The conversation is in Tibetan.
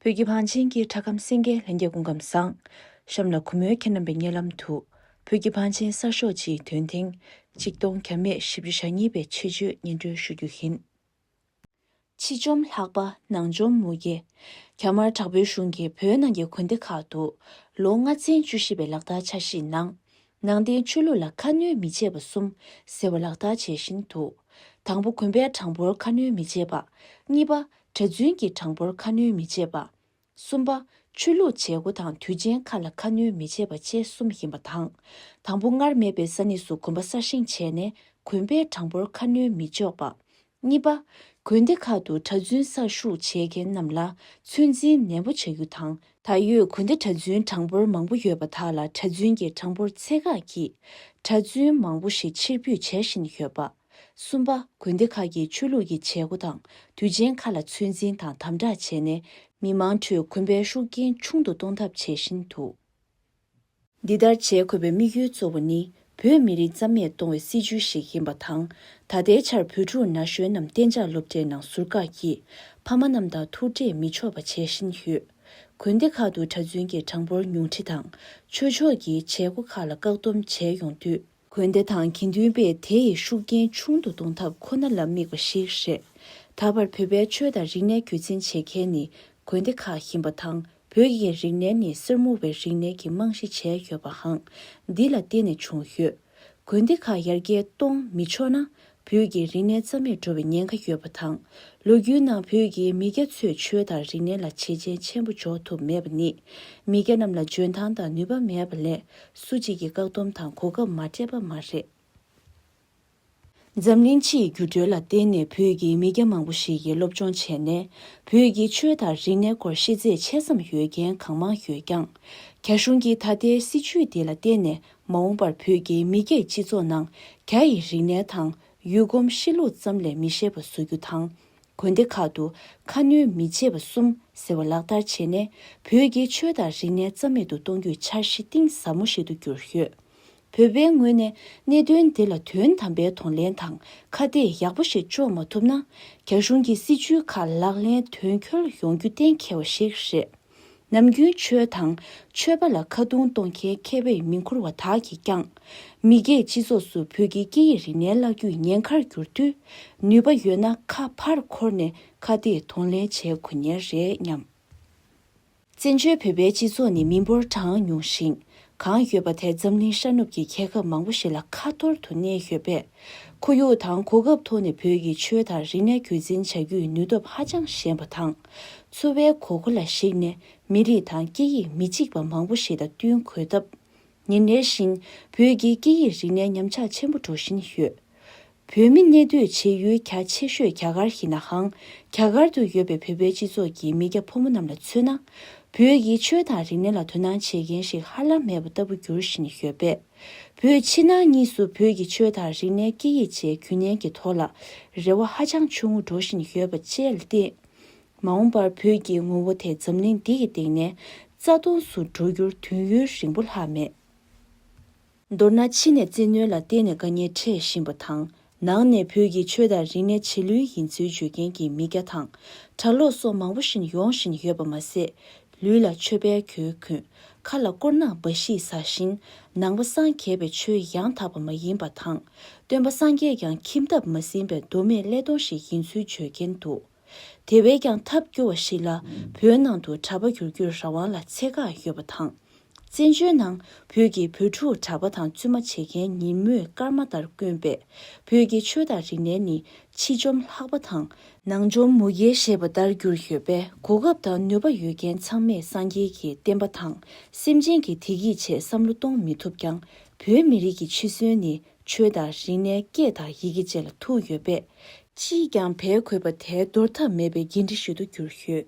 བོད་ཀྱི་བང་ཆེན་གྱི་གྲྭ་ཁམས་སེང་གེ་ལྷན་རྒྱས་སྐུ་ཁམས་བཟང། གཤམ་ལ་གུ་མོའི་ཁྱེད་རྣམ་པའི་སྙན་ལམ་དུ། བོད་ཀྱི་བང་ཆེན་གསར་ཤོག་སྤྱིའི་དོན་ཐེངས་གཅིག་སྟོང་གྱ་མེད་བཞི་བཅུ་ཞག་གཉིས་པའི་ཆེད་བརྗོད་སྙན་སྒྲོན་ཞུ་རྒྱུ་ཡིན། ཕྱི་བཅོམ་ལྷག་པ་ནང་བཅོམ་མུ་གེ། རྒྱ་དམར་དྲག་པོའི་གཞུང་གིས་བོད་ནང་གི་དགོན་སྡེ་ཁག་ཏུ། ལོ་ལྔ་ཚན་བཅུ་བཞི་པའི་ལག་བསྟར་འཆར་གཞིའི་ནང། ནང་བསྟན་ཆོས་ལུགས་ལ་ཁ་སྣོན་མི་བྱེད་པ་གསུམ་ཟེར་བ་ལག་བསྟར་བྱས་བཞིན་དུ། དང་པོ་དགོན་པའི་གྲངས་འབོར་ཁ་སྣོན་མི་བྱེད་པ། གཉིས་པ། གྲྭ་བཙུན་གྱི་གྲངས་འབོར་ཁ་སྣོན་མི་བྱེད་པ། གསུམ་པ། ཆོས་ལུགས་བྱེད་སྒོ་དང་དུས་ཆེན་ཁག་ལ་ཁ་སྣོན་མི་བྱེད་པ་བཅས་གསུམ་ཡིན་པ་དང། དང་པོ་སྔར་མེད་པའི་ས་གནས་སུ་གོམ་པ་གསར་བཞེངས་བྱས་ནས་གོན་པའི་གྲངས་འབོར་ཁ་སྣོན་མི་འཇོག་པ། གཉིས་པ། དགོན་སྡེ་ཁག་ཏུ་གྲྭ་བཙུན་གསར་ཞུགས་བྱེད་མཁན་རྣམས་ལ་ཚོད་འཛིན་ནན་པོ་བྱ་རྒྱུ་དང། ད་ཡོད་དགོན་སྡེ་གྲྭ་བཙུན་གྲངས་འབོར་མང་པོ་ཡོད་པ་དག་ལ་གྲྭ་བཙུན་གྱི་གྲངས་འབོར་ཚད་བཀག་གིས་གྲྭ་བཙུན་མང་པོ་ཞིག་ཕྱིར་འབུད་བྱེད་བཞིན་ཡོད་པ། གསུམ་པ། དགོན་སྡེ་ཁག་གིས་ཆོས་ལུགས་ཀྱི་བྱེད་སྒོ་དང་དུས་ཆེན་ཁག་ལ་ཚོད་འཛིན་དང་དམ་དྲག་བྱས་ནས་མི་མང་ཁྲོད་གོན་པའི་ཤུགས་རྐྱེན་ཆུང་དུ་གཏོང་ཐབས་བྱེད་བཞིན་འདུག། འདི་ལྟར་བྱེད་དགོས་པའི་དམིགས་ཡུལ་གཙོ་བོ་ནི་བོད་མི་རིགས་རྩ་མེད་གཏོང་བའི་སྲིད་བྱུས་ཤིག་ཡིན་པ་དང། ད་ལྟའི་ཆར་བོད་ཕྲུག་ན་གཞོན་རྣམས་གཏན་འཇགས་སློབ་གྲྭའི་ནང་ཟུར་བཀག་གིས་ཕ་མ་རྣམས་དང་ཐུག་འཕྲད་མི་ཆོག་པ་བྱེད་བཞིན་ཡོད། དགོན་སྡེ་ཁག་ཏུ་གྲྭ་བཙུན་གྱི་གྲངས་འབོར་ཉུང་འཕྲི་དང་ཆོས་ཕྱོགས་ཀྱི་བྱེད་སྒོ་ཁག་ལ་བཀག་སྡོམ་བྱས་ཡོང་དུས། དགོན་སྡེ་དང་དགེ་འདུན་པས་དེ་ཡི་ཤུགས་རྐྱེན་ཆུང་དུ་གཏོང་ཐབས་ཁོ་ན་ལ་དམིགས་པ་ཞིག་རེད། ད་བར་བོད་པའི་ཆོས་དང་རིག་གནས་རྒྱུད་འཛིན་བྱེད་མཁན་ནི་དགོན་སྡེ་ཁག་ཡིན་པ་དང་བོད་ཀྱི་རིག་གནས་ནི་གསེར་མོ་བའི་རིག་གནས་ཀྱི་རྨང་གཞི་བྱས་ཡོད་པའང་འདི་ལ་བརྟེན་ནས་བྱུང་ཡོད། དགོན་སྡེ་ཁག་ཡར་རྒྱས་གཏོང་མི་ཆོག་ན་བོད་ཀྱི་རིག་གནས་རྩ་མེད་འགྲོ་བའི་ཉེན་ཁ་ཡོད་པ་དང། ལོ་རྒྱུས་ནང་བོད་ཀྱི་མི་སྐྱ་ཚོས་ཆོས་དང་རིག་གནས་ལ་བྱས་རྗེས་ཆེན་པོ་འཇོག་ཐུབ་མེད་པ་ནི། མི་སྐྱ་རྣམས་ལ་འཇོན་ཐང་དང་ནུས་པ་མེད་པ་ལས་སུ་གཅིག་གིས་བཀག་སྡོམ་དང་གོ་སྐབས་མ་སྤྲད་པ་མ་རེད། འཛམ་གླིང་སྤྱིའི་འགྱུར་འགྲོས་ལ་བརྟེན་ནས་བོད་ཀྱི་མི་སྐྱ་མང་པོ་ཞིག་གིས་སློབ་སྦྱོང་བྱས་ནས་བོད་ཀྱི་ཆོས་དང་རིག་གནས་སྐོར་ཤེས་ཚད་ཆེ་ཙམ་ཡོད་མཁན་གང་མང་ཡོད་ཀྱང། རྒྱ་གཞུང་གིས་ད་ལྟའི་སྲིད་བྱུས་འདི་ལ་བརྟེན་ནས་མ་འོངས་པར་བོད་ཀྱི་མི་སྐད་སྤྱི་ཚོགས་ནང་རྒྱ་ཡི་རིག་གནས་དང་ཡུལ་གོམས་གཤིས་ལུགས་ཙམ་ལས་མི་ཤེས་པ་བཟོ་རྒྱུ་དང། དགོན་སྡེ་ཁག་ཏུ་ཁ་སྣོན་མི་བྱེད་པ་གསུམ་ཟེར་བ་ལག་བསྟར་བྱས་ནས་བོད་ཀྱི་ཆོས་དང་རིག་གནས་རྩ་མེད་དུ་གཏོང་རྒྱུའི་འཆར་གཞི་གཏིང་ཟབ་མོ་ཞིག་ཏུ་གྱུར་ཡོད། བོད་པའི་ངོས་ནས་གནད་དོན་འདི་ལ་དོན་དམ་པའི་དོ་ལེན་དང་ཁ་གཏད་ཡག་པོ་ཞིག་གཅོག་མ་ཐུབ་ན། རྒྱ་གཞུང་གི་སྲིད་བྱུས་ཁག་ལག་ལེན་དོན་འཁྱོལ་ཡོང་རྒྱུ་གཏན་འཁེལ་བ་ཞིག་རེད། ནམ་རྒྱུན་ཆོས་དང་ཆོས་པ་ལ་ཁ་རྡུང་གཏོང་མཁན་མཁས་པའི་མིང་འཁུར་བ་དག་གིས་ཀྱང། མི་སྒེར་སྤྱི་ཚོགས་སུ་བོད་ཀྱི་སྐད་ཡིག་རིག་གནས་བརླག་རྒྱུའི་ཉེན་ཁར་བསྒྱུར་དུས། ནུས་པ་ཡོད་ན་ཁ་ཕར་འཁོར་ནས་ཁ་གཏད་གདོང་ལེན་བྱས་དགོས་ཉེན་རེད་སྙམ། བཙན་བྱོལ་བོད་པའི་སྤྱི་ཚོགས་ནི་མི་འབོར་གྲངས་ཉུང་ཞིང་གང་ཡོད་པ་དེ་འཛམ་གླིང་ཤར་ནུབ་ཀྱི་མཁས་ཁབ་མང་པོ་ཞིག་ལ་ཁ་ཐོར་དུ་གནས་ཡོད་པས། ཁོར་ཡུག་དང་གོ་སྐབས་ཐོག་ནས་བོད་ཀྱི་ཆོས་དང་རིག་གནས་རྒྱུད་འཛིན་བྱ་རྒྱུའི་ནུས་སྟོབས་ཧ་ཅང་ཞན་པ་དང། འཚོ་བའི་གོ་སྐོ་ལ་གཞིགས་ནས་མི་རིགས་དང་སྐད་ཡིག་མི་གཅིག་པ་མང་པོ་ཞིག་དང་བསྟུན་དགོས་སྟབས། ཉིན་རེ་བཞིན་བོད་ཀྱི་སྐད་ཡིག་རིག་གནས་ཉམས་ཆག་ཆེན་པོ་འགྲོ་བཞིན་ཡོད། བོད་མི་གནས་སྡོད་བྱེད་ཡུལ་གྱ་ཆེ་ཤོས་རྒྱ་གར་ཡིན་ནའང། རྒྱ་གར་དུ་ཡོད་པའི་བོད་པའི་སྤྱི་ཚོགས་ཀྱི་མི་སྐྱ་ཕོ་མོ་རྣམས་ལ་མཚོན་ན། བོད་ཀྱི་ཆོས་དང་རིག་གནས་ལ་དོ་སྣང་བྱེད་མཁན་ཞིག་ཧ་ལམ་མེད་པ་ལྟ་བུ་འགྱུར་བཞིན་ཡོད་པས། བོད་ཕྱི་ནང་གཉིས་སུ་བོད་ཀྱི་ཆོས་དང་རིག་གནས་སྐད་ཡིག་བཅས་རྒྱུན་གནས་ཀྱི་ཐོག་ལ་རེ་བ་ཧ་ཅང་ཆུང་ངུ་འགྲོ་བཞིན་ཡོད་པ་བཅས་ལ་བརྟེན། མ་འོངས་པར་བོད་ཀྱི་ངོ་བོ་དེ་འཛམ་གླིང་འདི་ཡི་སྟེང་ནས་རྩ་སྟོངས་སུ་འགྲོ་རྒྱུར་དུས་ཡུན་རིང་པོ་ལྷག་མེད། མདོར་ན་ཕྱི་ནས་བཙན་གནོན་ལ་བརྟེན་ནས་དཀའ་ཉེན་འཕྲད་བཞིན་པ་དང། ནང་ནས་བོད་ཀྱི་ཆོས་དང་རིག་གནས་བྱེད་ལུས་ཡིན་ཚུལ་བརྗོད་མཁན་གྱི་མི་སྐྱ་དང། གྲྭ་ལོག་སོགས་མང་པོ་ཞིན་ཡོང་བཞིན་ཡོད་པ་མ་ཟད། ལུས་ལ་ཆོས་དཔལ་གྱོན་གུན། ཁ་ལ་དཀོར་ནག་འབའ་ཞིག་ཟ་བཞིན། ནང་པ་སངས་རྒྱས་པའི་ཆོས་ཡང་དག་པ་མ་ཡིན་པ་དང། སྟོན་པ་སངས་རྒྱས་ཀྱང་ཁྱིམ་ཐབ་མ་ཟིན་པའི་མདོ་མེད་ཀླད་སྟོང་ཞིག་ཡིན་ཚུལ་བརྗོད་མཁན་འདུག། དེ་བས་ཀྱང་ཐབས་སྐྱོ་བ་ཞིག་ལ་བོད་ནང་དུ་གྲྭ་པ་འགྱུར་རྒྱུའི་རང་དབང་ལ་ཚད་བཀག་ཡོད་པ་དང། བཙན་བྱོལ་ནང་བོད་ཀྱི་བུ་ཕྲུག་གྲྭ་པ་དང་བཙུན་མ་བྱེད་མཁན་ཉིན་མོའི་སྐར་མ་ལྟར་དཀོན་པས་བོད་ཀྱི་ཆོས་དང་རིག་གནས་ནི་ཕྱི་འཇོམས་ལྷག་པ་དང། ནང་འཇོམས་མུ་གེ་ཞེས་པ་ལྟར་གྱུར་ཡོད་པས་གོ་སྐབས་དང་ནུས་པ་ཡོད་མཁན་ཚང་མས་སངས་རྒྱས་ཀྱི་བསྟན་པ་དང་སེམས་ཅན་གྱི་བདེ་སྐྱིད་ཆེད་བསམ་བློ་གཏོང་མི་ཐུབ་ཀྱང་བོད་མི་རིགས་ཀྱི་འཆི་གསོན་ནི་ཆོས་དང་རིག་གནས་སྐད་དང་ཡི་གེ་བཅས་ལ་ཐུག་ཡོད་པས། ཅིས་ཀྱང་བལ་གོས་པ་དེ་འདོར་ཐབས་མེད་པའི་འགན་འཁྲི་ཞིག་ཏུ་གྱུར་ཡོད།